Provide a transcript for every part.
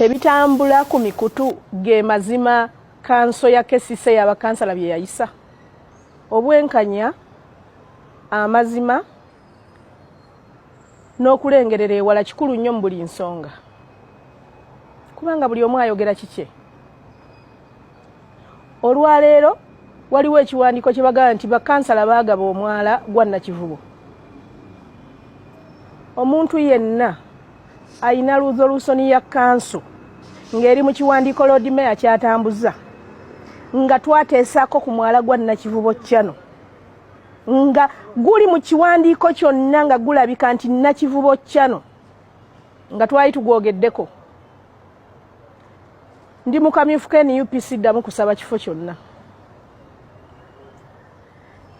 Ebitambula ku mikutu ge mazima kanso ya kesise ya bakansala bye yayisa obwenkanya amazima n'okulengerera ewala kikulu nnyo mu buli nsonga kubanga buli omu ayogera kikye olwaleero waliwo ekiwandiiko kye bagamba nti bakansala baagaba omwala gwa nakivubo omuntu yenna alina luzolusoni ya kanso ng'eri mu kiwandiiko lord mayor kyatambuza nga twateesaako ku mwala gwa nakivubo kyano nga guli mu kiwandiiko kyonna nga gulabika nti nakivubo kyano nga twali tugwogeddeko ndi mukamyufu ka nup siddamu kusaba kifo kyonna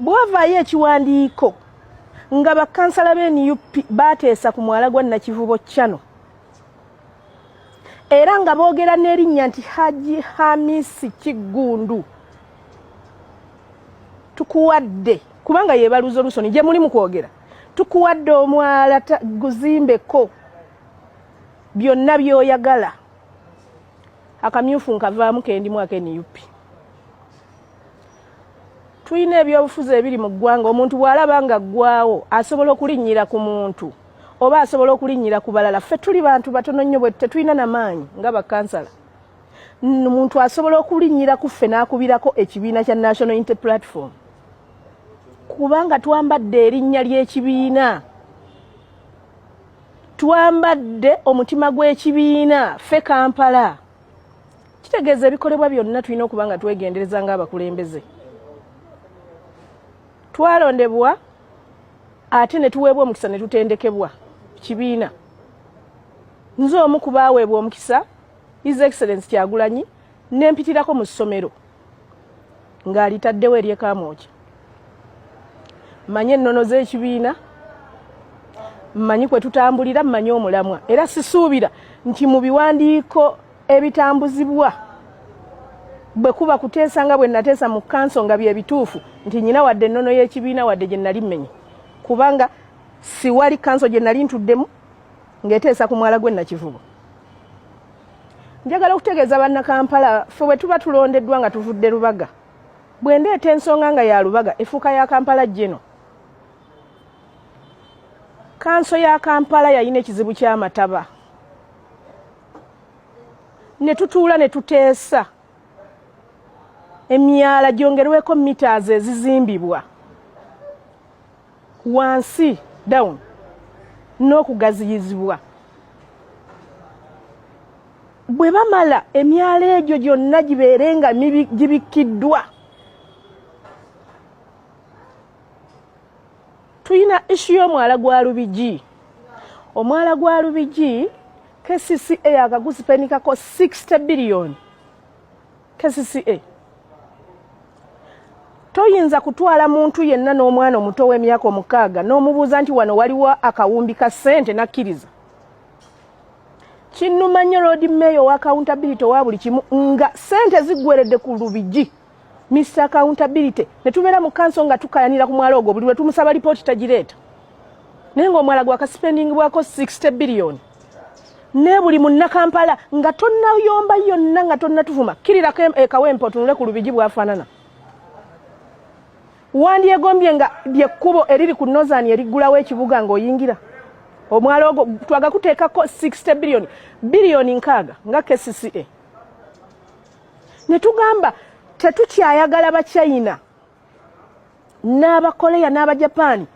bwavaayo ekiwandiiko nga bakansala be nup bateesa ku mwala gwa nakivubo chano era nga boogera n'erinnya nti haji hamisi kiggundu tukuwadde kubanga yebaluza olusoni gye muli mu kwogera tukuwadde omwala guzimbeko byonna byoyagala akamyufu nkavaamu kendimu akenup tulina ebyobufuzi ebiri mu ggwanga omuntu bw'alaba nga ggwawo asobola okulinnyira ku muntu oba asobola okulinnyira ku balala ffe tuli bantu batono nnyo bwe tetulina na maanyi nga bakansala muntu asobola okulinnyira ku ffe n'akubirako ekibiina kya national inte platform kubanga twambadde erinnya ly'ekibiina twambadde omutima gw'ekibiina ffe kampala kitegeeza ebikolebwa byonna tulina okuba nga twegendereza ng'abakulembeze twalondebwa ate ne tuweebwa omukisa ne tutendekebwa kibiina nze omu ku baaweebwa omukisa his excellence kyagulanyi ne mpitirako mu ssomero ng'alitaddewo eryekaamooki mmanyi ennono z'ekibiina mmanyi kwe tutambulira mmanyi omulamwa era sisuubira nti mu biwandiiko ebitambuzibwa bwe kuba kuteesa nga bwe nateesa mu kanso nga bye bituufu nti nyina wadde ennono y'ekibiina wadde gye nali mmenye kubanga siwali kanso gye nali ntuddemu ng'eteesa ku mwala gwe nakivubo njagala okutegeeza bannakampala fe bwe tuba tulondeddwa nga tuvudde lubaga bwe ndeeta ensonga nga ya lubaga efuuka ya kampala jeno kanso ya kampala yalina ekizibu ky'amataba ne tutuula ne tuteesa emyala gyongerweko mitas ezizimbibwa wansi down n'okugaziyizibwa bwe bamala emyala egyo gyonna gibeere nga gibikkiddwa Tuyina ishu y'omwala gwa Lubigi. Omwala gwa Lubigi KCCA yakagusipenikako 60 billion KCCA toyinza kutwala muntu yenna n'omwana omuto w'emyaka omukaaga n'omubuuza nti wano waliwo akawumbi ka ssente n'akkiriza kinnuma nnyo loodi meeya owa accountability owa buli kimu nga ssente ziggweredde ku lubigi Mr Accountability ne tubeera mu kanso nga tukayanira ku mwala ogwo buli lwe tumusaba lipooti tagireeta naye ng'omwala gwa kasipendingi bwako 60 biliyoni ne buli munnakampala nga tonnayomba yonna nga tonnatuvuma kirirako ekawempe otunule ku lubigi bwafaanana wandyegombye nga lyekkubo eriri ku nozani eriggulawo ekibuga ng'oyingira omwala ogwo twagakuteekako 60 biliyoni biliyoni nkaaga nga kcca ne tugamba tetukyayagala bachina n'abakoleya n'abajapaani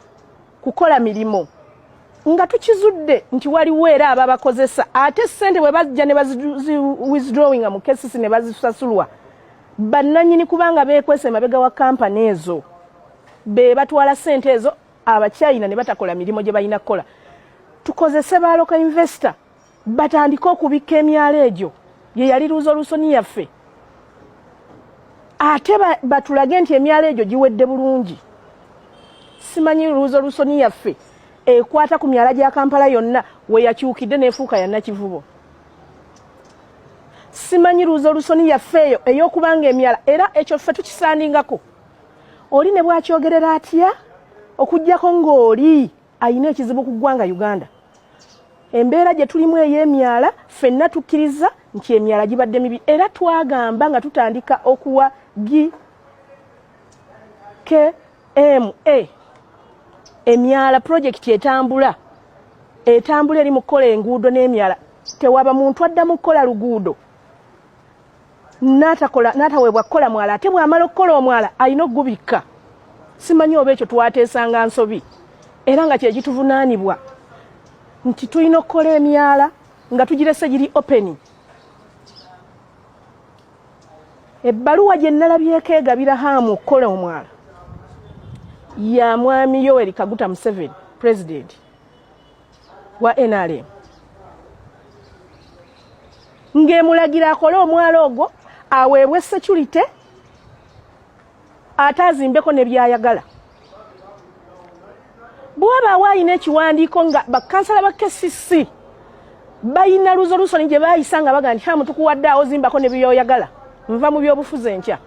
kukola mirimu nga tukizudde nti waliwo era ababakozesa ate sente bwe bajja ne baziwithdrawing mu kesisi ne bazisasulwa bannanyini kubanga beekwesa emabega wa kampani ezo be batwala sente ezo abachina ne batakola mirimu gye balina kukola tukozese baaloka investor batandike okubikka emyalo egyo ye yali luuzolusoni yaffe ate batulage nti emyalo egyo giwedde bulungi simanyi luuzolusoni yaffe ekwata ku myala gya kampala yonna weyakyukidde nefuuka yanakivubo simanyi luuzolusoni yaffe eyo eyokubanga emyala era ekyo ffe tukisandingako oli ne bwakyogerera atya okugyako ng'oli ayina ekizibu ku ggwanga uganda embeera gye tulimu ey'emyala ffenna tukkiriza nti emyala gibadde mibi era twagamba nga tutandika okuwa gi kma emyala pulojekiti etambula etambula eri mu kukola enguudo n'emyala tewaba muntu adda mu kukola luguudo natakola nataweebwa kukola mwala ate bwamala okukola omwala alina okugubikka simanyi oba ekyo twateesanga nsobi era nga kyekituvunaanibwa nti tulina okukola emyala nga tugirese giri openi ebbaluwa gye nalabyeko egabira haamu okukola omwala ya mwami yoweri kaguta museveni pulezidenti wa nrm ng'emulagira akole omwala ogwo aweebwe security ate azimbeko ne byayagala bwabaawo alina ekiwandiiko nga bakansala ba kcc balina luzolusoni gye baayisa nga baga nti hamu tukuwadde awo zimbako ne byoyagala nva mu byobufuzi enkya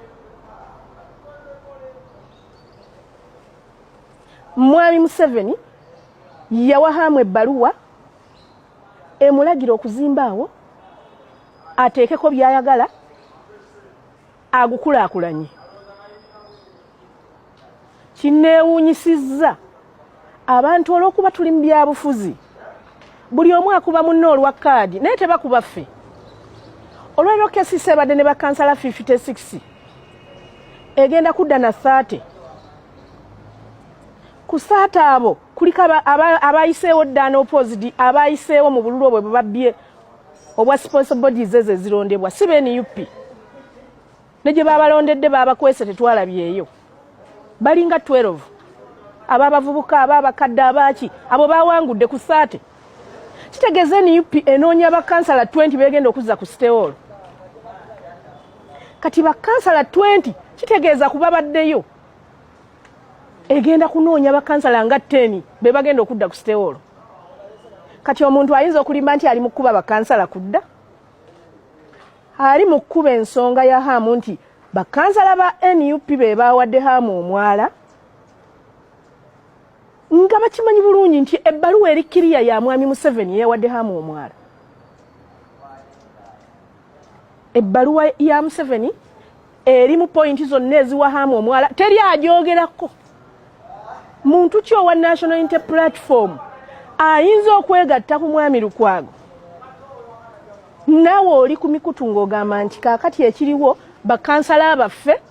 Mwami Museveni yawa hamu ebbaluwa emulagira okuzimba awo ateekeko byayagala agukulaakulanye kinneewuunyisizza abantu olw'okuba tuli mu byabufuzi buli omu akuba munne olwa kaadi naye tebakuba ffe olwaliro kesisi ebadde ne bakansala 56 egenda kudda na 30 ku saata abo kuliko abayiseewo ddaana opposed abayiseewo mu bululu obwe bwebabbye obwa sponsor bodies ezo ezirondebwa si benup ne gye babalondedde babakwese tetwalabyeyo balinga 12 aba abavubuka aba abakadde abaaki abo bawangudde ku saate kitegeeza nup enoonya bakansala 20 begenda okuzza ku siteolo kati bakansala 20 kitegeeza kuba baddeyo egenda kunoonya bakansala nga teni be bagenda okudda ku sitewoolo kati omuntu ayinza okulimba nti ali mu kukuba bakansala kudda ali mu kukuba ensonga ya haamu nti bakansala ba nup be baawadde haamu omwala nga bakimanyi bulungi nti ebbaluwa eri kiriya ya mwami museveni yeyawadde haamu omwala ebbaluwa ya museveni eri mu pointi zonna eziwa haamu omwala teri agyogerako muntu ki owa national inter platform ayinza okwegatta ku mwami lukwago nawe oli ku mikutu ng'ogamba nti kaakati ekiriwo bakansala baffe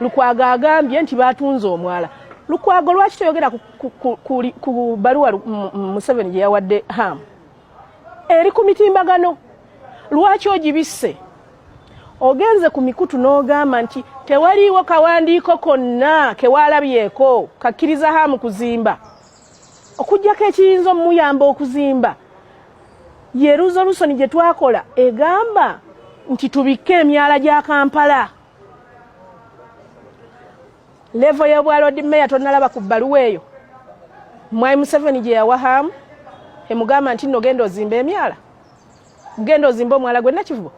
lukwago agambye nti batunze omwala lukwago lwaki toyogera ku baluwa museveni gye yawadde haamu eri ku mitimbagano lwaki ogibisse ogenze ku mikutu n'ogamba nti tewaliiwo kawandiiko konna kewaalabyeko kakkiriza hamu kuzimba okugyako ekiyinza omumuyamba okuzimba ye ruzolusoni gye twakola egamba nti tubikke emyala gya kampala levo y'obwalodi meya tonalaba ku bbaluwa eyo mwai museveni gye yawa hamu emugamba nti nogenda ozimba emyala genda ozimba omwala gwe nakivubo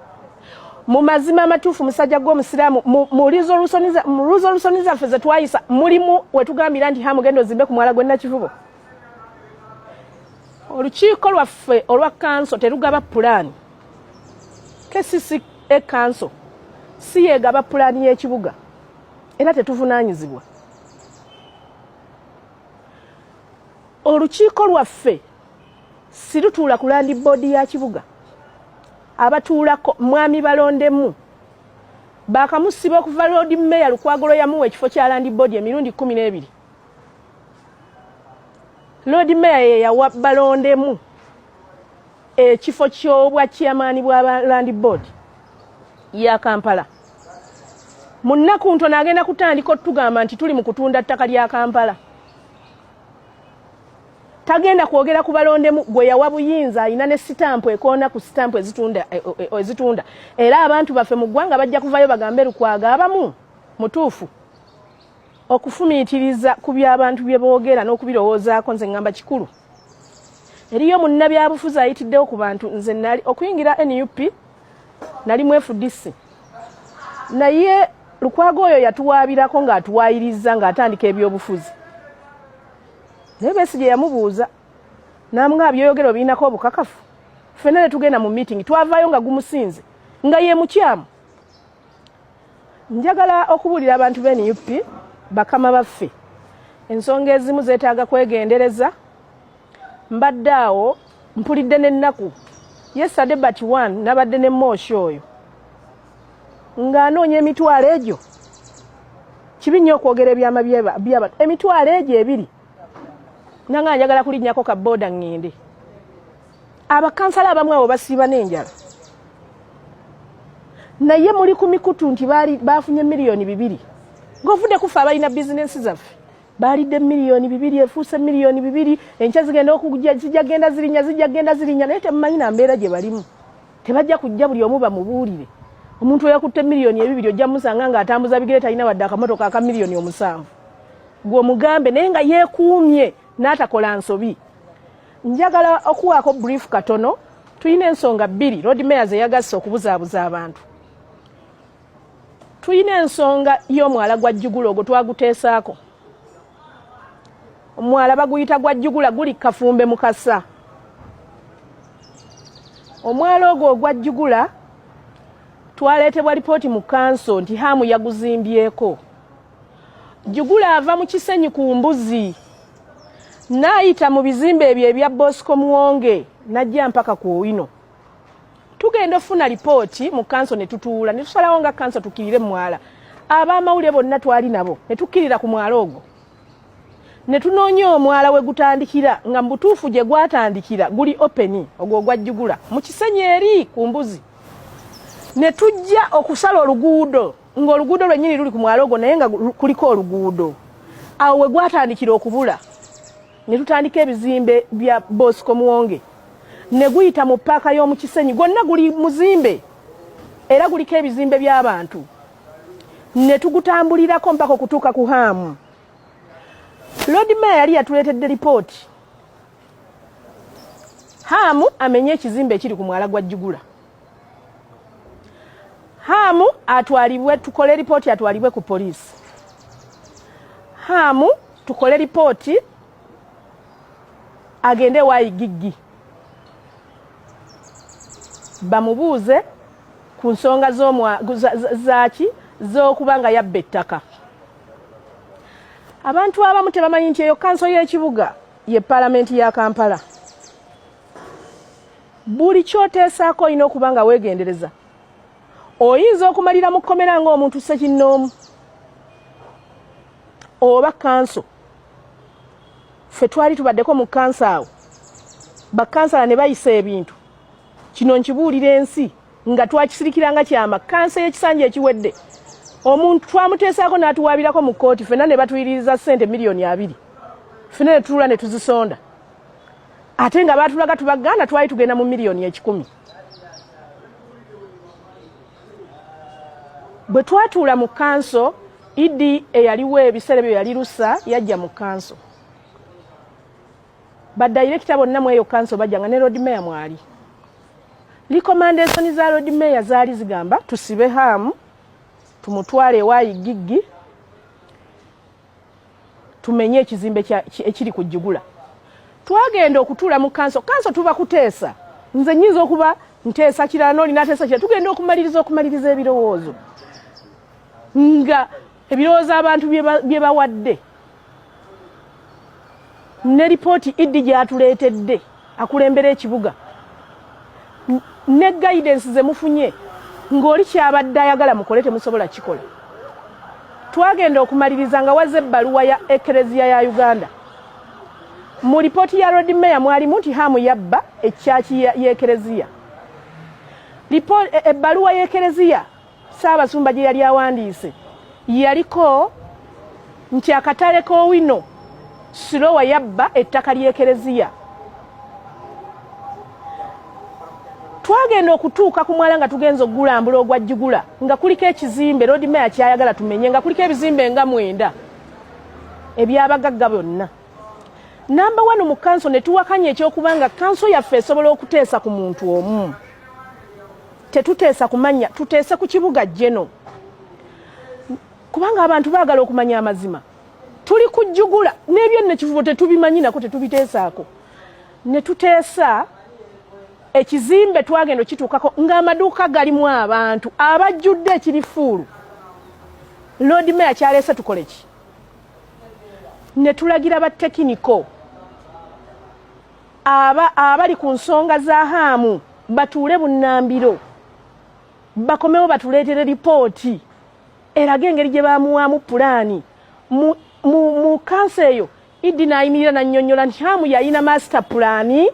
mu mazima amatuufu musajja gw'omusiraamu mu resolution zaffe ze twayisa mulimu wetugambira nti ha mugenda ozimbe ku mwala gwe nakivubo olukiiko lwaffe olwa kanso terugaba pulaani kcca e kanso si yegaba pulaani y'ekibuga era tetuvunaanyizibwa olukiiko lwaffe sirutuula ku landi boodi ya kibuga abatuulako mwami balondemu bakamusiba okuva loodi meya lukwagolo yamuwa ekifo kya landi boodi emirundi kumi n'ebiri loodi meya yeyawa balondemu ekifo kyobwa chairmani bwa landi boodi ya kampala mu nnaku ntono agenda kutandika otugamba nti tuli mu kutunda ttaka lya kampala tagenda kwogera ku balondemu gwe yawa buyinza alina ne sitampu ekoona ku sitampu ezitunda e, e, e, ezitunda era abantu baffe mu ggwanga bajja kuvayo bagambe lukwaga abamu mutuufu okufumiitiriza ku by'abantu bye boogera n'okubirowoozaako nze ngamba kikulu eriyo munnabyabufuzi ayitiddewo ku bantu nze nali okuyingira nup nali mwefudisi naye lukwaga oyo yatuwaabirako ng'atuwaayiriza ng'atandika ebyobufuzi naye besigye yamubuuza namugamba byoyogera obirinako obukakafu fena netugenda mu meeting twavaayo nga gumusinze nga ye mukyamu njagala okubuulira abantu be nup bakama baffe ensonga ezimu zetaaga kwegendereza mbadde awo mpulidde n'ennaku yesade but one nabadde ne mooshi oyo ng'anoonya emitwalo egyo kibi nnyo okwogera ebyama by'abantu emitwalo egyo ebiri nanga njagala kulinnyako ka booda ŋŋende abakansala abamu abo basiiba n'enjala naye muli ku mikutu nti baafunye miliyoni bibiri ng'ovudde kufe abalina bizinensi zaffe baalidde miliyoni bibiri efuuse miliyoni bibiri enkya zigenda okujja zijja genda zirinya zijja genda zirinya naye temumanyi na mbeera gye balimu tebajja kujja buli omu bamubuulire omuntu eyakutte miliyoni ebibiri ojja musanga nga atambuza bigere talina wadde akamotoka aka miliyoni omusanvu gwe omugambe naye nga yeekuumye n'atakola nsobi njagala okuwaako brief katono tulina ensonga bbiri lord mayor zeyagasse okubuzaabuza abantu tulina ensonga y'omwala gwa jjugula ogwo twaguteesaako omwala baguyita gwa jjugula guli kafumbe mukasa omwala ogwo ogwa jjugula twaleetebwa lipooti mu kanso nti haamu yaguzimbyeko jjugula ava mu kisenyi ku mbuzi n'ayita mu bizimbe ebyo ebya bosco muwonge n'ajja mpaka ku owino tugenda ofuna lipooti mu kanso ne tutuula ne tusalawo nga kanso tukirire mu mwala ab'amawulire bonna twali nabo ne tukkirira ku mwala ogwo ne tunoonya omwala we gutandikira nga mu butuufu gye gwatandikira guli openi ogwo ogwajjugula mu kisenyi eri ku mbuzi ne tujja okusala oluguudo ng'oluguudo lwennyini luli ku mwala ogwo naye nga kuliko oluguudo awo we gwatandikira okubula ne tutandika ebizimbe bya Bosco Muwonge ne guyita mu paaka y'omu Kisenyi gwonna guli muzimbe era guliko ebizimbe by'abantu ne tugutambulirako mpaka okutuuka ku haamu Lord Mayor yali yatuleetedde lipooti haamu amenye ekizimbe ekiri ku mwala gwa Jigula Hamu atwalibwe tukole ripoti atwalibwe ku polisi. Hamu tukole ripoti agende wayi giggi bamubuuze ku nsonga zaki z'okuba nga yabba ettaka. Abantu abamu tebamanyi nti eyo kanso y'ekibuga ye palamenti ya Kampala. buli kyoteesaako olina okuba nga weegendereza oyinza okumalira mu kkomera ng'omuntu sekinnoomu oba kanso ffe twali tubaddeko mu kansa awo bakansala ne bayisa ebintu kino nkibuulira ensi nga twakisirikiranga kyama kansa ey'ekisanja ekiwedde omuntu twamuteesaako n'atuwaabirako mu kkooti fena ne batuyiririza ssente miliyoni abiri fena ne tulula ne tuzisonda ate nga baatulaga tubaganda twali tugenda mu miliyoni ekikumi bwe twatuula mu kanso idi eyaliwo ebiseera ebyo yali lusa yajja mu kanso badayirekita bonna mu eyo kanso bajja nga ne lord mayor mwali likomandesoni za lord mayor zaali zigamba tusibe haamu tumutwale ewa igiggi tumenye ekizimbe ekiri ku jigula twagenda okutuula mu kanso kanso tuba kuteesa nze nyinza okuba nteesa kirala noli nateesa kirala tugenda okumaliriza okumaliriza ebirowoozo nga ebirowoozo abantu bye bawadde ne lipooti iddi gyatuleetedde akulembera ekibuga ne guidance ze mufunye ng'oli kyabadde ayagala mukole temusobola kikola twagenda okumaliriza nga waze ebbaluwa ya ekereziya ya uganda mu lipooti ya rod mayor mwalimu nti hamu yabba ekyaki y'ekereziya ebbaluwa y'ekereziya Ssaabasumba gye yali awandiise yaliko nti akatale k'owino sirowa yabba ettaka ly'ekereziya twagenda okutuuka ku mwala nga tugenza okugulambula ogwa jjugula nga kuliko ekizimbe loodi meya kyayagala tumenye nga kuliko ebizimbe nga mwenda ebyabagagga byonna namba wanu mu kanso ne tuwakanya ekyokubanga kanso yaffe esobola okuteesa ku muntu omu Tetuteesa ku mannya, tuteese ku kibuga Jeno, kubanga abantu baagala okumanya amazima. Tuli kujjugula n'ebyo nno ekivubo tetubimanyi nako tetubiteesaako, ne tuteesa ekizimbe twagenda okituukako ng'amaduuka galimu abantu abajjudde ekirifuulu. Loodi meya kyaleese tukole ki? Ne tulagira batekiniko aba abali ku nsonga za haamu batuule bunnambiro bakomewo batuleetere lipooti eraga engeri gye bamuwaamu pulaani mu, mu, mu kanso eyo iddi n'ayimirira nannyonnyola nti haamu yalina maasita pulaani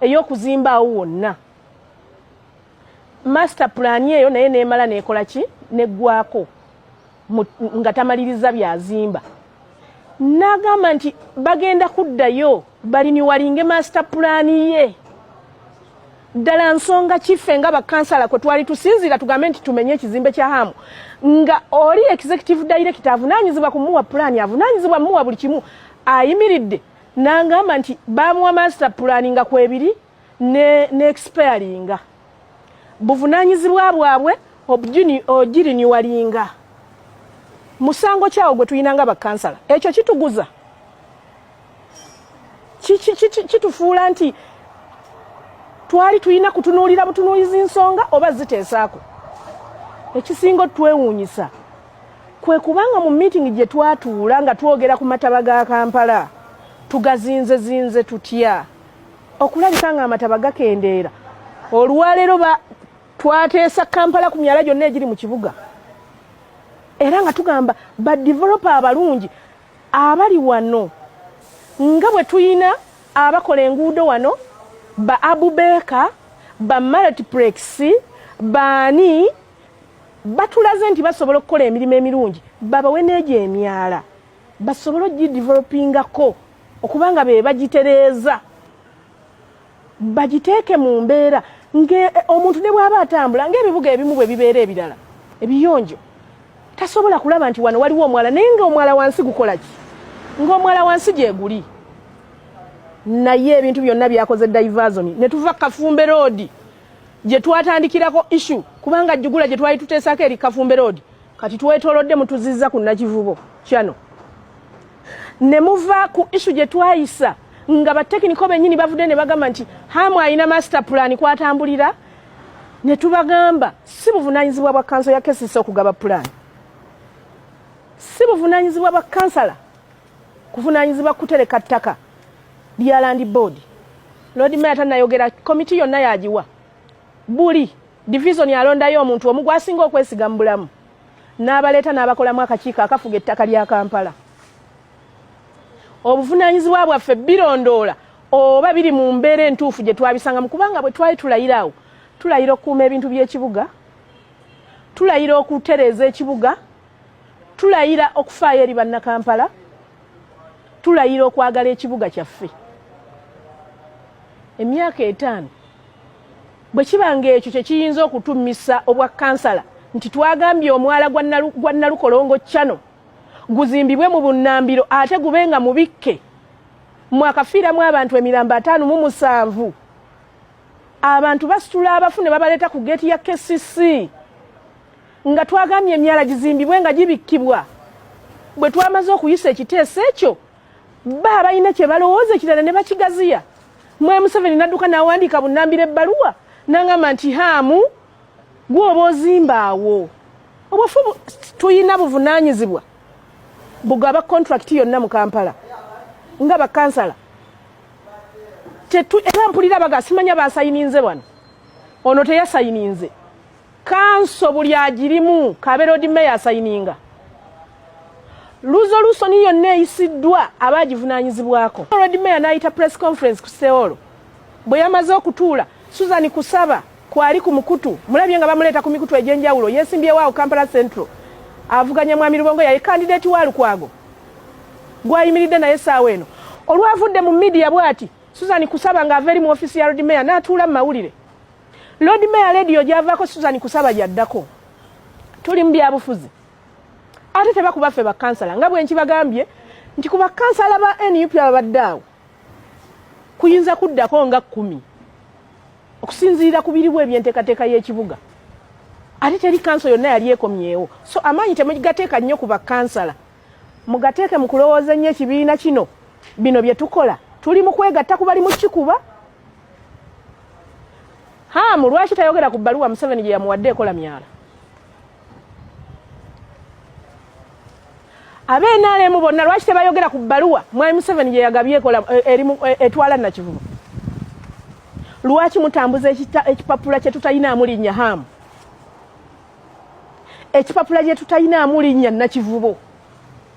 ey'okuzimba awo wonna master plan eyo naye nemala nekola ki neggwako nga tamaliriza byazimba nagamba nti bagenda kuddayo baliniwalinge master plan ye ddala nsonga kiffe nga bakansala kwe twali tusinziira tugambe nti tumenye ekizimbe kya hamu nga oli executive director avunaanyizibwa kumuwa pulaani avunaanyizibwa muwa buli kimu ayimiridde nangamba nti bamuwa master pulaani nga kwebiri ne, ne expiringa buvunanyizibwa bwabwe ogiriniwalinga musango kyawo gwe tulina nga bakansala ekyo kituguza kitufuula nti twali tulina kutunuulira butunuulizi nsonga oba ziteesaako ekisinga otwewuunyisa kwe kubanga mu miitingi gye twatuula nga twogera ku mataba ga kampala tugazinzezinze tutya okulabika nga amataba gakendeera olwaleero twateesa kampala ku myala gyonna egiri mu kibuga era nga tugamba badevelopa abalungi abali wano nga bwe tulina abakola enguudo wano ba abubeeka ba multiplex baani batulaze nti basobola okukola emirimu emirungi babawe n'egyo emyala basobole ogidevelopingako okubanga be bagitereeza bagiteeke mu mbeera ngaomuntu eh, ne bwaba atambula ngaebibuga ebimu bwe bibeera ebirala ebiyonjo tasobola kulaba nti wano waliwo omwala naye ngaomwala wansi gukola ki ngaomwala wansi gyeguli naye ebintu byonna byakoze divasoni ne tuva kafumbe roodi gye twatandikirako issu kubanga jjugula gye twali tuteesaako eri kafumbe roodi kati twetolodde mutuzizza ku nakivubo kyano ne muva ku isu gye twayisa nga batekiniko bennyini bavudde ne bagamba nti hamu alina master pulaani kwatambulira ne tubagamba si buvunaanyizibwa bwa kanso ya kesisi okugaba pulaani si buvunaanyizibwa bwa kansala kuvunaanyizibwa kutereka ttaka lya landi boodi loodi maya tanayogera komiti yonna yagiwa buli divizoni alondayo omuntu omu gwasinga okwesiga mu bulamu n'abaleeta n'abakolamu akakiiko akafuga ettaka lya kampala obuvunaanyizibwa bwaffe birondoola oba biri mu mbeera entuufu gye twabisangamu kubanga bwe twali tulayira awo tulayira okukuuma ebintu by'ekibuga tulayira okutereeza ekibuga tulayira okufaayo eri bannakampala tulayira okwagala ekibuga kyaffe emyaka etaano Bwe kiba ng'ekyo kye kiyinza okutummisa obwa kansala nti twagambye omwala gwa Nalukolongo Channel guzimbibwe mu bunnambiro ate gube nga mubikke mwakafiiramu abantu emirambo ataano mu musanvu abantu basitula abafu ne babaleeta ku geeti ya kcc nga twagambye emyala gizimbibwe nga gibikkibwa bwe twamaze okuyisa ekiteeso ekyo Ba abalina kye balowooza ekirala ne bakigaziya. Mwe Museveni nadduka n'awandiika bunnambira ebbaluwa n'angamba nti haamu gw'oba ozimba awo. Obufu tulina buvunaanyizibwa bugaba kontulakiti yonna mu Kampala nga bakansala. Era mpulira baga simanya baasayininze wano. Ono teyasayininze. kanso buli agirimu kaberodi meya asayininga luzolusoni yonna eyisiddwa aba agivunanyizibwako rod meya n'ayita press conference ku seolo bwe yamaze okutuula susan kusaba kwali ku mukutu mulabye nga bamuleeta ku mikutu egy'enjawulo yeesimbyewo awo kampala central avuganya mwami lubongo yaye kandidati wa lukwago gwayimiridde naye saawa eno olwavudde mu midiya bwati susan kusaba ng'ava eri mu ofiisi ya rod meya n'atuula mu mawulire Lord Mayor Ledio gyavaako Susan Kusaba gyaddako tuli mu byabufuzi ate tebakuba ffe bakansala nga bwe nkibagambye nti ku bakansala ba nup ababadde awo kuyinza kuddako nga kkumi okusinziira ku biriwo ebyenteekateeka y'ekibuga ate teri kanso yonna yali ekomyewo so amaanyi temugateeka nnyo ku bakansala mugateeke mu kulowooza ennyo ekibiina kino bino bye tukola tuli mu kwegatta ku bali mu kikuba haamu lwaki tayogera ku bbaluwa museveni gye yamuwadde ekola myala abenalemu bonna lwaki tebayogera ku bbaluwa mwami museveni gye yagabye ekola eh, erimu eh, etwala nakivubo lwaki mutambuza ekipapula kye tutalinamu linnya haamu ekipapula gye tutalinamu linnya nakivubo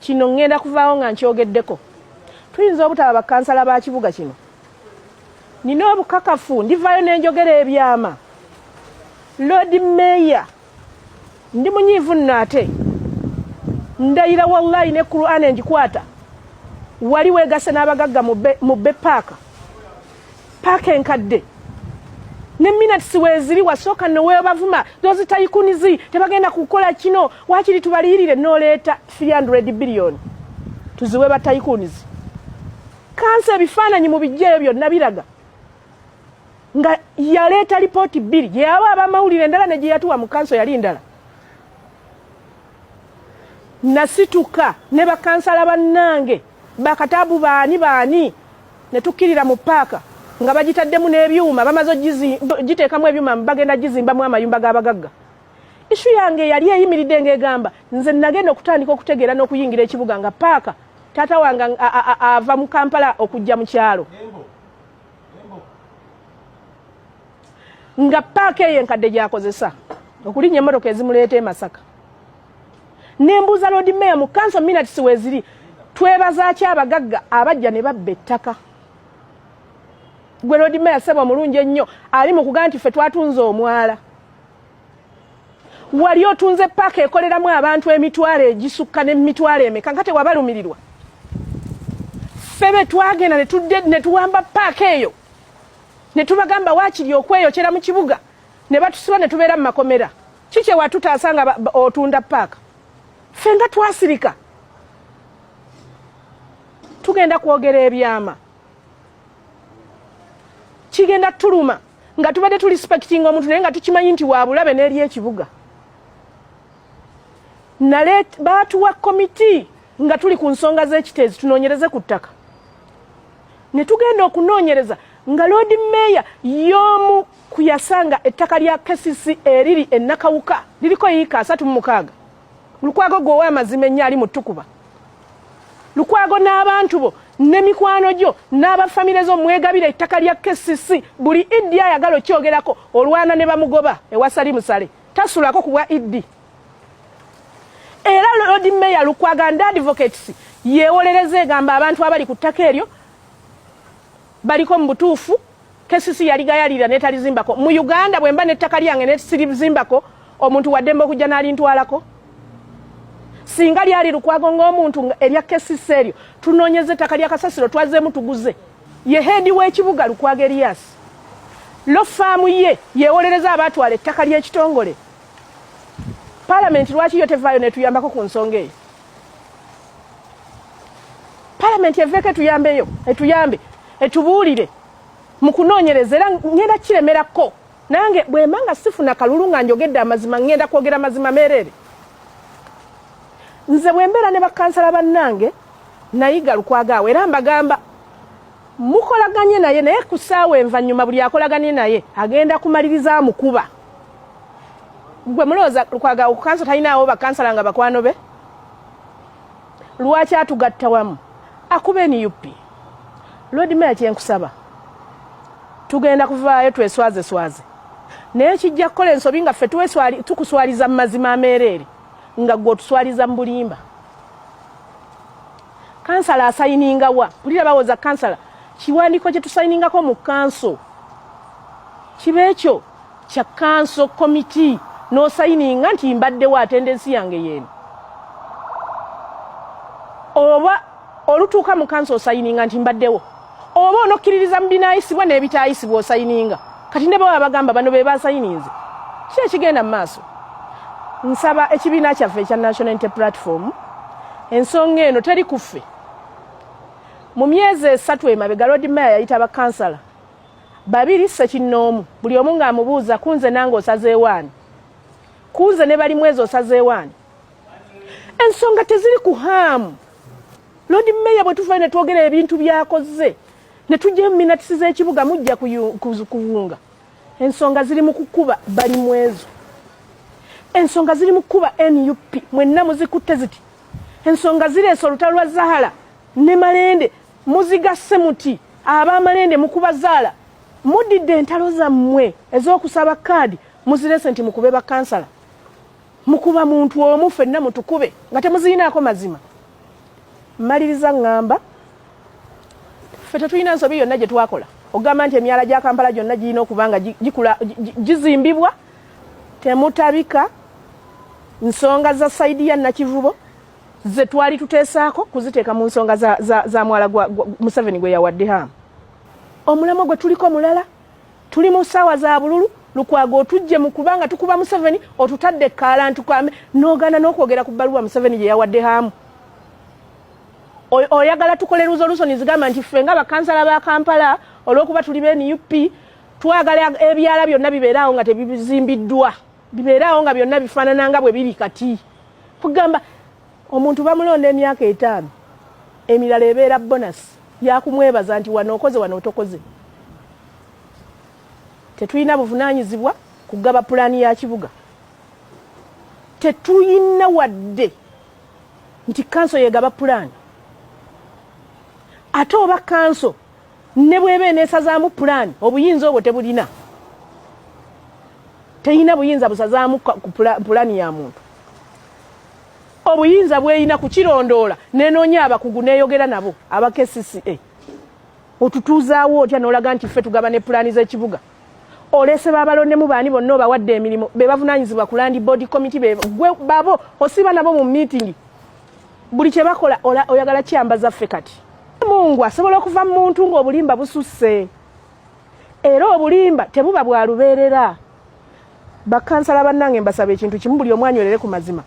Kino ngenda kuvaawo nga nkyogeddeko. Tuyinza obutaba bakansala ba kibuga kino. Nina obukakafu ndivaayo nenjogera ebyama. Lord Mayor ndi munyiivu nno ate ndayira wallahi ne Quran enjikwata wali wegase n'abagagga mu be paaka paaka enkadde ne minutes weziri wasooka newebavuma those tayikunizi tebagenda kukola kino wakiri tubaliyirire noleeta 300 billion tuziwe batayikunizi kansa ebifaananyi mu bijjeeyo byonna biraga nga yaleeta lipooti bbiri gyeyawa abamawulire endala ne gyeyatuwa mu kanso yali ndala nasituka ne bakansala bannange Bakataabu baani baani ne tukkirira mu ppaaka nga bagitaddemu n'ebyuma bamaze ogiteekamu ebyuma bagenda gizimbamu amayumba g'abagagga. Isu yange yali eyimiridde ng'egamba nze nagenda okutandika okutegeera n'okuyingira ekibuga nga ppaaka taata wange ava mu Kampala okujja mu kyalo nga ppaaka eyo enkadde gyakozesa okulinnya emmotoka ezimuleeta e Masaka. nembuuza lord mayor mu kanso minutes weziri twebazaki abagagga abajja ne babba ettaka gwe lord mayor sebo omulungi ennyo ali mu kugaa nti ffe twatunze omwala wali otunze paaka ekoleramu abantu emitwalo egisukka nemitwalo emeka nga tewabalumirirwa ffe be twagenda netudde netuwamba paaka eyo netubagamba wakiri okweyokera mu kibuga ne batusiba ne tubeera mu makomera ki kye watutaasa nga otunda paaka ffe nga twasirika tugenda kwogera ebyama kigenda tuluma nga tubadde tu respectinga omuntu naye nga tukimanyi nti wabulabe n'eri ekibuga nale baatuwa komiti nga tuli ku nsonga z'ekiteezi tunoonyereze ku ttaka ne tugenda okunoonyereza nga loodi meeya y'omu ku yasanga ettaka lya KCC eriri e Nakawuka liriko yiika asatu mu mukaaga. Lukwago gwe ow'amazima ennyo ali mu ttukuba. Lukwago n'abantu bo ne mikwano gyo n'abafamire zo mwegabira ettaka lya KCC buli iddi ayagala okyogerako olwana ne bamugoba ewasali musale tasulako ku bwa iddi. Era Lord Mayor Lukwago and Advocates yeewolereza egamba abantu abali ku ttaka eryo baliko mu butuufu kesisi yali gayalira netalizimbako mu uganda bwemba nettaka lyange nesirizimbako omuntu waddemba okujja nalintwalako singa lyali lukwago ngaomuntu erya kesisi eryo tunoonyeza ettaka lya kasasiro twazeemu tuguze ye heedi w'ekibuga lukwago eriyasi lo faamu ye yewolereza abaatwala ettaka ly'ekitongole palamenti lwaki yo tevaayo netuyambako ku nsonga eyo palamenti eveeko etuyambeyo etuyambe etubuulire mu kunoonyereza era ngenda kiremerako nange bwemba nga sifuna kalulu nga njogedde amazima ngenda kwogera mazima meereere nze bwembeera ne bakansala bannange nayiga lukwagaawo era mbagamba mukolaganye naye naye ku saawa envanyuma buli akolaganye naye agenda kumaliriza mukuba gwe mulowooza lukwaga okukansa talinaawo bakansala nga bakwano be lwaki atugatta wamu akuba nup lodi meya kyenkusaba tugenda kuvaayo tweswaze swaze naye kijja kukola ensobi nga ffe tukuswaliza mu mazima ameereere nga gwe otuswaliza mu bulimba kansala asayininga wa kulira bawoza kansala kiwandiiko kye tusayiningako mu kanso kiba ekyo kya kanso komiti n'osayininga nti mbaddewo atendensi yange yeeno oba olutuuka mu kanso osayininga nti mbaddewo oba onokkiririza mu binaayisibwa n'ebitaayisibwa osayininga kati ne baba bagamba bano be basayininze ki ekigenda mu maaso nsaba ekibiina kyaffe ekya national inte platform ensonga eno teri ku ffe mu myezi esatu emabega lodi maya yayita bakansala babiri ssekinnoomu buli omu ng'amubuuza kunze nange osazeewaani kunze ne bali mwezi osazeewaani ensonga teziri ku haamu loodi meeya bwe tuvayo ne twogera ebintu byakozze ne tujjayo mu minatisi z'ekibuga mujja kuwunga ensonga ziri mu kukuba bali mwezo ensonga ziri mu kukuba nup mwenna muzikutte ziti ensonga zireese olutalo lwa zahara ne malende Muzigasse muti ab'amalende mu kubazaala mudidde entalo zammwe ez'okusaba kaadi muzirese nti mukube bakansala mukuba muntu omu fenna mutukube nga temuziyinaako mazima mmaliriza ŋŋamba ffe tetulina nsobi yonna gye twakola okugamba nti emyala gya kampala gyonna girina okuba nga gikula gizimbibwa temutabika nsonga za saidi ya nakivubo ze twali tuteesaako kuziteeka mu nsonga za, za, za mwala gwa, gwa museveni gwe yawadde hamu omulamwa gwe tuliko mulala tuli mu ssaawa za bululu lukwago otujje mu kubanga tukuba museveni otutadde kaalantu kame n'ogaana n'okwogera ku bbaluwa museveni gye yawadde hamu oyagala tukole resolution zigamba nti ffe nga bakansala ba kampala olwokuba tuli be nup twagala ebyala byonna bibeeraawo nga tebizimbiddwa bibeeraawo nga byonna bifaanana nga bwe biri kati kugamba omuntu bamulonda emyaka etaano emirala ebeera bonasi yakumwebaza nti wano okoze wano otokoze tetulina buvunanyizibwa kugaba pulaani ya kibuga tetulina wadde nti kanso yegaba pulaani ate oba kanso ne bweba eneesazaamu pulaani obuyinza obwo tebulina teyina buyinza busazaamu pulaani ya muntu obuyinza bweyina kukirondoola nenoonya abakugu neeyogera nabo aba kcca otutuuzaawo otya nolaga nti ffe tugaba ne pulaani z'ekibuga olese babalondemu baani bonna obawadde emirimu bebavunanyizibwa ku landi bodi komiti begwe babo osiba nabo mu meeting buli kyebakola oyagala kyamba zaffe kati mungu asobola okuva mu muntu ng'obulimba bususse era obulimba tebuba bwa lubeerera bakansala bannange mbasaba ekintu kimu buli omwanywerere ku mazima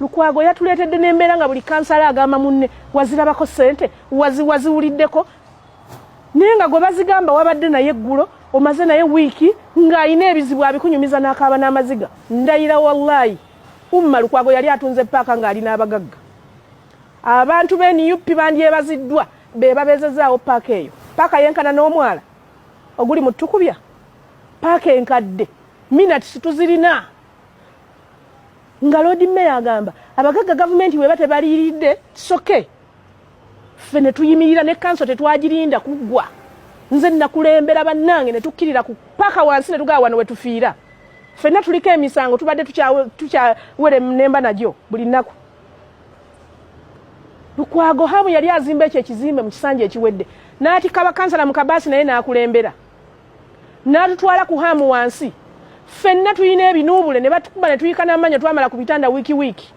lukwago yatuleetedde n'embeera nga buli kansala agamba munne wazirabako ssente waziwuliddeko naye nga gwe bazigamba wabadde naye eggulo omaze naye wiiki ng'alina ebizibu abikunyumiza n'akaaba n'amaziga ndayira wallayi umma lukwago yali atunze paaka ng'ali n'abagagga abantu be nup bandyebaziddwa be babeezezaawo paaka eyo paaka yenkana n'omwala oguli mu tukubya paaka enkadde minatisi tuzirina nga loodi meya agamba abagagga gavumenti bweba tebaliiridde soke okay. ffe ne tuyimirira ne kanso tetwagirinda kuggwa nze nakulembera bannange ne tukkirira ku paka wansi ne tugaa wano we tufiira ffenna tuliko emisango tubadde tukyawere nemba nagyo buli nnaku lukwago hamu yali azimba ekyo ekizimbe mu kisanja ekiwedde n'atikaba kansala mu kabaasi naye n'akulembera n'atutwala ku hamu wansi ffenna tulina ebinuubule ne batukuba ne tuyika n'amanya twamala ku bitanda wiiki wiiki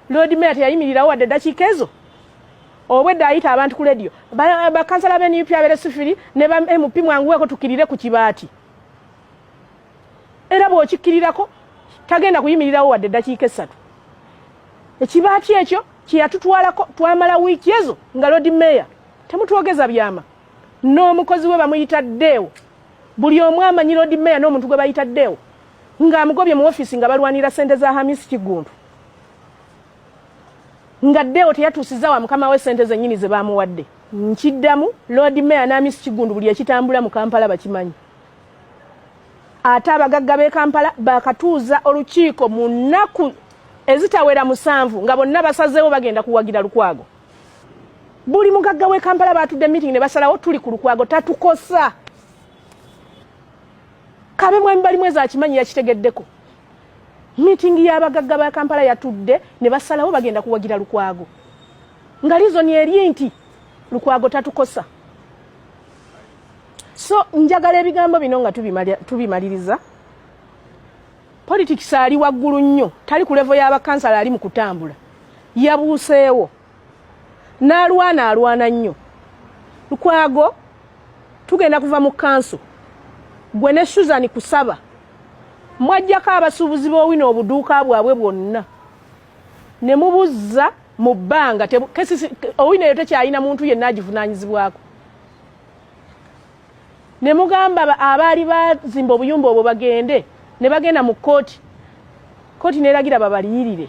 Lord Mayor teyayimirirawo wadde eddakiika ezo obwedda ayita abantu ku lediyo bakansala ba nup abere sifiri ne ba mp mwanguweko tukirire ku kibaati era bw'okikkirirako tagenda kuyimirirawo wadde eddakiika essatu ekibaati ekyo kyeyatutwalako twamala wiiki ezo nga lodi meeya temutwogeza byama n'omukozi we bamuyita deewo buli omu amanyi lodi meeya n'omuntu gwe bayita deewo nga amugobye mu office nga balwanira sente za Hamis Kigundu nga deo teyatusiza wa mukama we sente zenyini ze bamuwadde nkiddamu Lord Mayor na Hamis Kigundu buli ekitambula mu Kampala bakimanyi ate abagagga b'e Kampala bakatuuza olukiiko mu nnaku ezitawera musanvu nga bonna basazeewo bagenda kuwagira Lukwago buli mugagga w'e Kampala baatudde meeting ne basalawo tuli ku Lukwago tatukosa kabe mwami bali mwezi akimanyi yakitegeddeko miitingi y'abagagga ba kampala yatudde ne basalawo bagenda kuwagira lukwago nga lizoni eri nti lukwago tatukosa so njagala ebigambo bino nga tubimaliriza politics ali waggulu nnyo tali ku levo y'abakansala ali mu kutambula yabuuseewo n'alwana alwana nnyo lukwago tugenda kuva mu kanso gwe ne susan kusaba mwajjako abasuubuzi b'owina obuduuka bwabwe bwonna ne mubuzza mu bbanga owina eyo tekyalina muntu yenna agivunaanyizibwako ne mugamba abaali bazimba obuyumba obwo bagende ne bagenda mu kkooti kkooti neeragira babaliyirire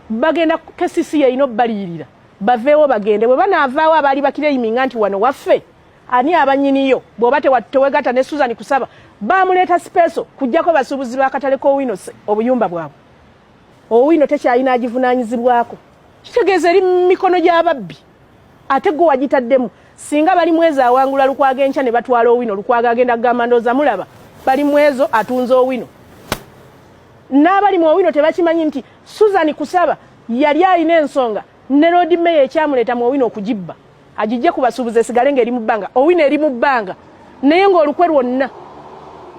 bagenda kesisi yeyina obubaliyirira baveewo bagende bwe banaavaawo abaali bakireyiminga nti wano waffe ani abanyiniyo bw'oba tewegatta ne suzani kusaba baamuleeta sipeeso kujjako basuubuzi b'akatale k'owino obuyumba bwabwe owino tekyalina agivunaanyizibwako kitegeeza eri mu mikono gy'ababbi ate gwe wagitaddemu singa bali mwezi awangula lukwago enkya ne batwala owino lukwago agenda kugamba ndooza mulaba bali mwezo atunze owino n'abali mu owino tebakimanyi nti susan kusaba yali alina ensonga ne loodi meya ekyamuleeta mu owino okugibba agijje ku basuubuzi esigale ng'eri mu bbanga owino eri mu bbanga naye ng'olukwe lwonna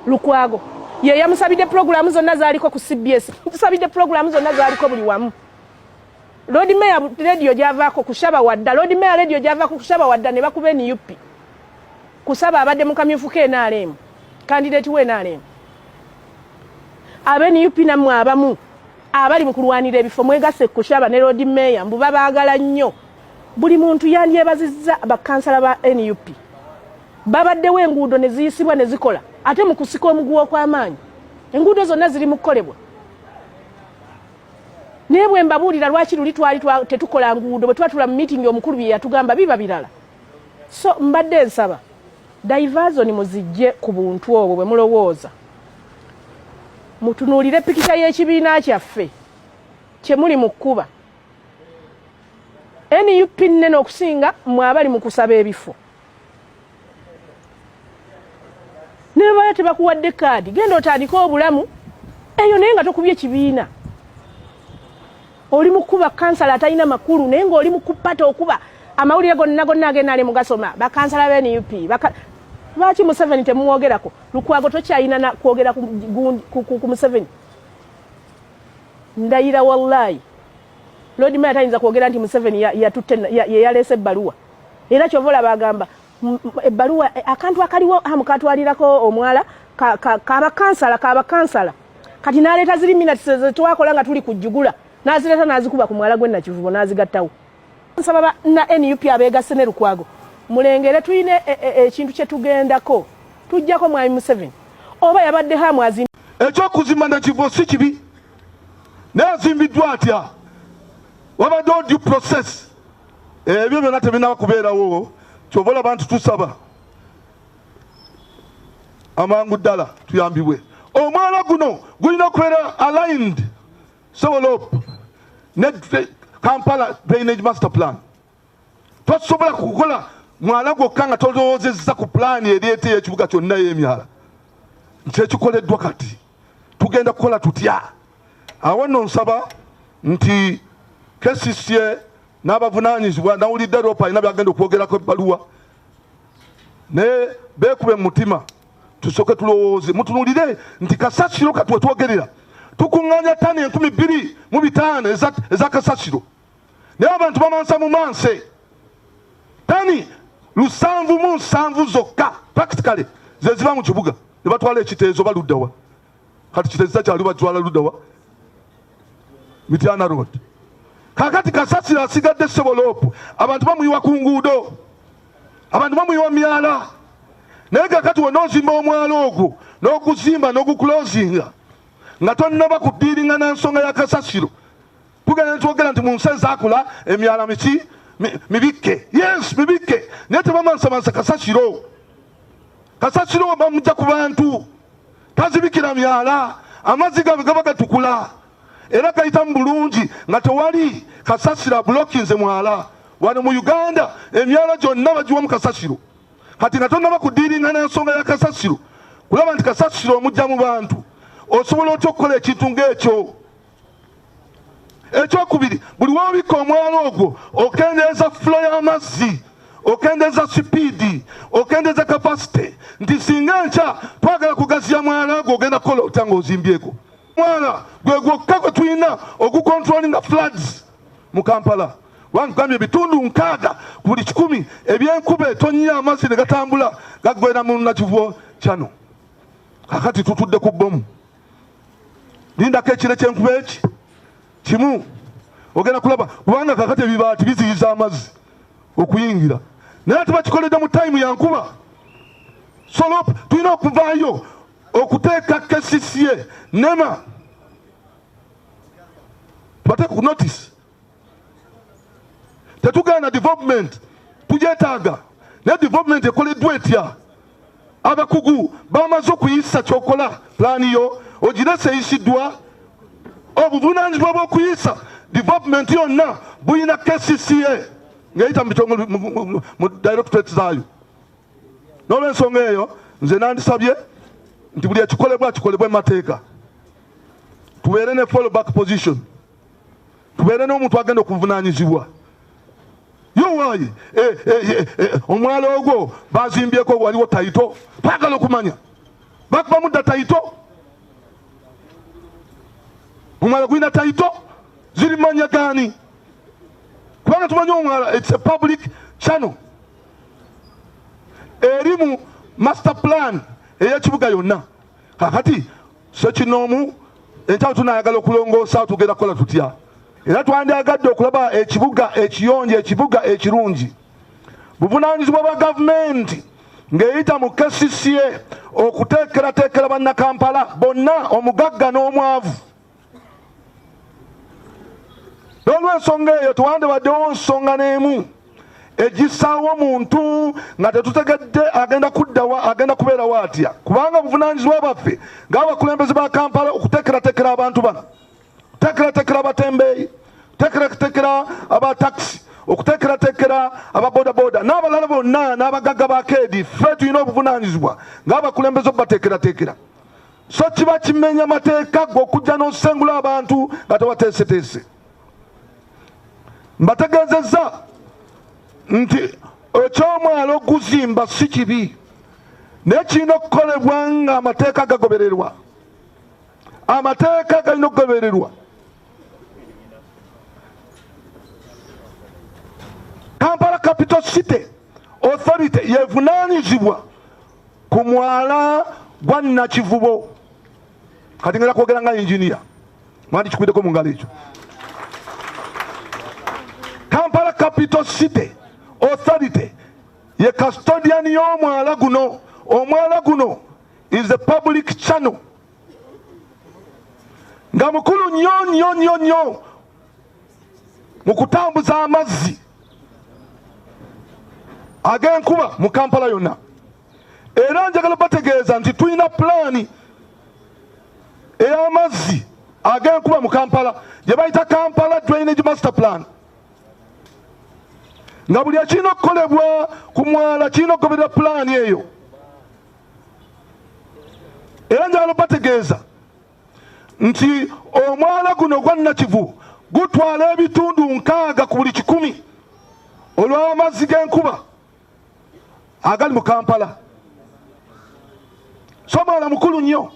lukwago ye yamusabidde pulogulaamu zonna zaaliko ku cbs tusabidde pulogulaamu zonna zaaliko buli wamu Lord Mayor radio gyavaako kusaba wadda Lord Mayor radio gyavaako kusaba wadda ne bakuba NUP kusaba abadde mu kamyufu ke NRM candidate we NRM abe NUP namwe abamu abali mu kulwanira ebifo mwegasse kusaba ne Lord Mayor mbu babaagala nnyo buli muntu yandyebazizza bakansala ba NUP babaddewo enguudo ne ziyisibwa ne zikola ate mu kusika omuguwa okw'amaanyi enguudo zonna ziri mu kukolebwa naye bwe mbabuulira lwaki luli twali tetukola nguudo bwe twatula mu miitingi omukulu bye yatugamba biba birala so mbadde nsaba daivazoni muzijje ku buntu obwo bwe mulowooza mutunuulire pikita y'ekibiina kyaffe kye muli mu kkuba nup nnene okusinga mwe abali mu kusaba ebifo nebabala tebakuwadde kaadi genda otandike obulamu eyo naye nga tokubye kibiina oli mukuba kansala atalina makulu naye ngaoli mukupata okuba amawulire gonna gonna agenda ali mugasoma bakansala ba nup lwaki museveni temumwogerako lukwago tokyayina kwogera ku museveni ndayira wallayi Lord Mayor tayinza kwogera nti Museveni yatutte yeyaleese ebbaluwa era kyova olaba agamba ebbaluwa e, akantu akaliwo amu katwalirako omwala kabakansala kabakansala kati naleeta ziri minutes zetwakola nga tuli kujjugula nazireeta nazikuba ku mwala gwe nakivubo nazigattawo nsaba ba na nup abeegasse ne lukwago mulengere tulina e, e, ekintu kyetugendako tujjako mwami museveni oba yabadde hamwazi ekyokuzimba nakivubo si kibi naye azimbiddwa atya wabaddewo due process ebyo byonna tebinaba kubeerawo kyova olaba nti tusaba amangu ddala tuyambibwe omwana guno gulina okubeera aligned sewolop ne kampala drainage master plan tosobola kukola mwala gwokka nga tolowoozezza ku pulaani ereeta eyekibuga kyonna y'emyala nkyekikoleddwa kati tugenda kukola tutya awo nno nsaba nti kcca n'abavunanyizibwa nawulidde ropa alina byagenda okwogerako ebbaluwa naye beekube mu mutima tusooke tulowooze mutunulire nti kasasiro kati wetwogerera tukuŋŋanya tani enkumi bbiri mu bitaano eza kasasiro naye abantu bamansa mu manse tani lusanvu mu nsanvu zokka practically zeziba mu kibuga ne batwala ekiteezo baluddawa kati kiteziza kyali batwala luddawa mityana road kakati kasasiro asigadde seboloopu abantu bamuyiwa ku nguudo abantu bamuyiwa myala naye kakati wona ozimba omwala ogwo n'oguzimba n'ogukulozinga nga tonnaba ku ddiiringa na nsonga ya kasasiro tugenda netwogera nti mu nsi ezakula emyala miki mibikke yes mibikke naye tebamansamansa kasasiro kasasiro bamujja ku bantu tazibikira myala amazzi gabe gaba gatukula era gayita mu bulungi nga tewali kasasiro abulokinze mwala wano mu uganda emyala gyonna bagiwa mu kasasiro kati nga tonaba kudiiringa n'ensonga ya kasasiro kulaba nti kasasiro omujja mu bantu osobola otya okukola ekintu ng'ekyo ekyokubiri buli wobikka omwala ogwo okendeeza fulo y'amazzi okendeeza sipiidi okendeeza kapasite nti singa nkya twagala kugaziya mwala gwe ogenda kukola otya ngaozimbyeko mwala gwe gwokka gwe tulina ogukontrolinga floods mu kampala wangambye ebitundu nkaaga ku buli kikumi ebyenkuba etonnya amazzi ne gatambula gagwera mu nakivuo kyano kakati tutudde ku bbomu lindako ekire kyenkuba eki kimu ogenda kulaba kubanga kakati ebibaati biziyiza amazzi okuyingira naye ate bakikoledde mu tayimu yankuba solop tulina okuvaayo okuteeka kcca nema bateeka ku notice tetugenda development tujetaaga naye development ekoleddwa etya abakugu bamaze okuyisa kyokola pulaani yo ogirese eyisiddwa obuvunanyizibwa bwokuyisa development yonna bulina kcca ngeyita mu directorate zaayo nolwensonga eyo nze nandisabye nti buli ekikolebwa kikolebwa emateeka tubeere ne follow back position tubeere n'omuntu agenda okuvunanyizibwa yowayi eh, eh, eh, omwalo ogwo bazimbyeko waliwo tayito twagala okumanya bakubamu dda tayito omwala gulina tayito ziri manya gani kubanga tumanyi omwala its a public channel erimu master plan eyekibuga yonna kakati sekinoomu enkyawo tunayagala okulongoosa tugenda kukola tutya era twandyagadde okulaba ekibuga ekiyonjo ekibuga ekirungi buvunaanyizibwa bwa gavumenti ng'eyita mu kcca okuteekerateekera bannakampala bonna omugagga n'omwavu n'olwensonga eyo tewandibaddewo nsonga n'emu egisaawo omuntu nga tetutegedde agenda kuddawa agenda kubeerawo atya kubanga obuvunaanyizibwa bwaffe ng'abakulembeze ba kampala okuteekerateekera abantu bano okuteekerateekera abatembeeyi okuteekerateekera abatakisi okuteekerateekera ababodaboda n'abalala bonna n'abagagga ba keedi ffe tulina obuvunaanyizibwa ng'abakulembeze obubateekerateekera so kiba kimenya mateeka gwe okujja n'osengula abantu nga tewateeseteese mbategeezezza nti ekyomwalo okuzimba si kibi naye kirina okukolebwa nga amateeka gagobererwa amateeka galina okugobererwa kampala capital city authority yevunanyizibwa ku mwala gwa nakivubo kati ngera kwogera nga inginiya mwandi kikwideko mu ngalo ekyo kampala capital city authority ye custodian y'omwala guno omwala guno is a public channel nga mukulu nnyo nnyo nnyo nnyo mu kutambuza amazzi ag'enkuba mu kampala yonna era njagala bategeeza nti tulina pulaani ey'amazzi ag'enkuba mu kampala gye bayita kampala drainage master plan nga buli ekirina okukolebwa ku mwala kirina okugoberera pulaani eyo era njagala obategeeza nti omwala guno ogwa nakivu gutwala ebitundu nkaaga ku buli kikumi olw'amazzi g'enkuba agali mu kampala so omulala mukulu nnyo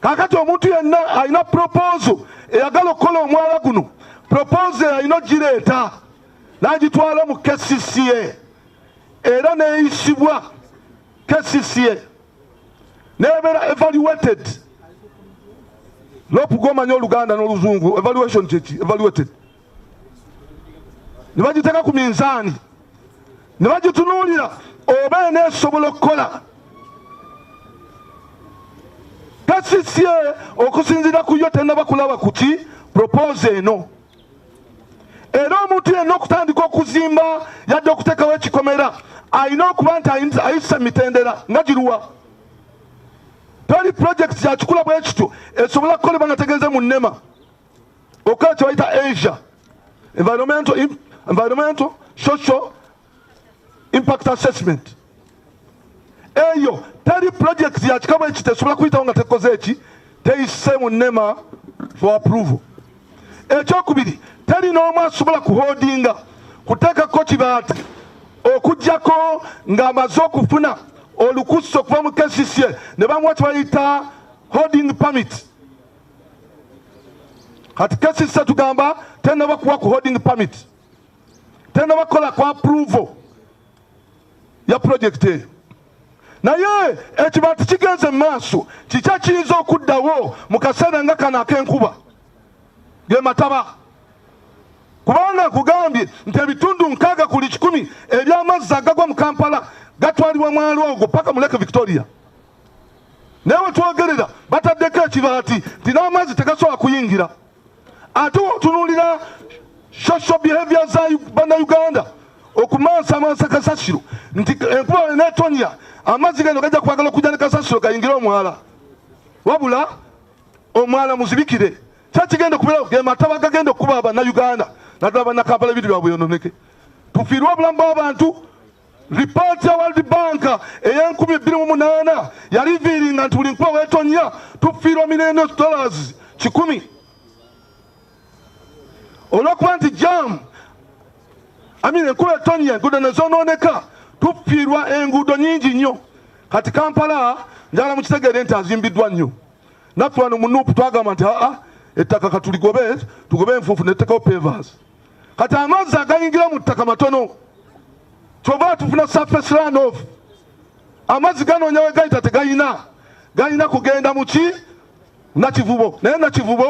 kakati omuntu yenna alina proposo eyagala okukola omwala guno proposo eyalina ogireeta nagitwala mu kcca era neyisibwa kcca nebeera evaluated lopu gomanya oluganda n'oluzungu evaluation kyeki evaluated ne bagiteeka ku minzaani ne bagitunuulira oba eneesobola okukola kasisye okusinziira ku yo tenaba kulaba kuki propose eno era omuntu yenna okutandika okuzimba yadde okuteekawo ekikomera alina okuba nti ayisa mitendera nga giruwa toli purojekiti yakikula bwe kityo esobola kukolebwa nga tegeeze mu nnema okukola kyebayita asia environmental, environmental social impact assessment eyo teri project yakikaba eki tesobola kuyitawo nga tekoze eki teyise mu nema for approval ekyokubiri teri n'omu asobola kuhodinga kuteekako kibaati okugyako ng'amaze okufuna olukusa okuva mu kcca ne bamuwa kyebayita holding permit kati kesi sisa tugamba tenaba kuwa ku holding permit tenaba kukola ku approval ya project eyo naye ekibantu kigenze mu maaso kiki ekiyinza okuddawo mu kaseera nga kano ak'enkuba ge mataba kubanga nkugambye nti ebitundu nkaaga kuli kikumi eby'amazzi agagwa mu kampala gatwalibwa mwalo ogwo paka mu lake victoria naye wetwogerera bataddeko ekibaati nti n'amazzi tegasobola kuyingira ate wotunulira social behavior za bannayuganda okumansamansa kasasiro nti enkuba wenetonya amazzi gano gajja kwagala okujja ne kasasiro gayingire omwala wabula omwala muzibikire kyakigenda okubeerawo ge mataba gagenda okukuba bannayuganda naddala bannakampala ebiri bwabwe yononeke tufiirwe obulamu bw'abantu Lipooti ya World Bank ey'enkumi bbiri mu munaana yaliviiringa nti buli nkuba weetonnya tufiirwa mirembe dollars kikumi olw'okuba nti jaamu amina enkuba etonnya enguudo ne zoonooneka tufiirwa enguudo nyingi nnyo kati kampala njagala mukitegeere nti azimbiddwa nnyo naffe wano mu nuupu twagamba nti aa ettaka katuligobe tugobe enfuufu nettekawo pevasi kati amazzi agayingira mu ttaka matono kyova tufuna surface run off amazzi ganoonya we gayita tegayina galina kugenda mu ki nakivubo naye nakivubo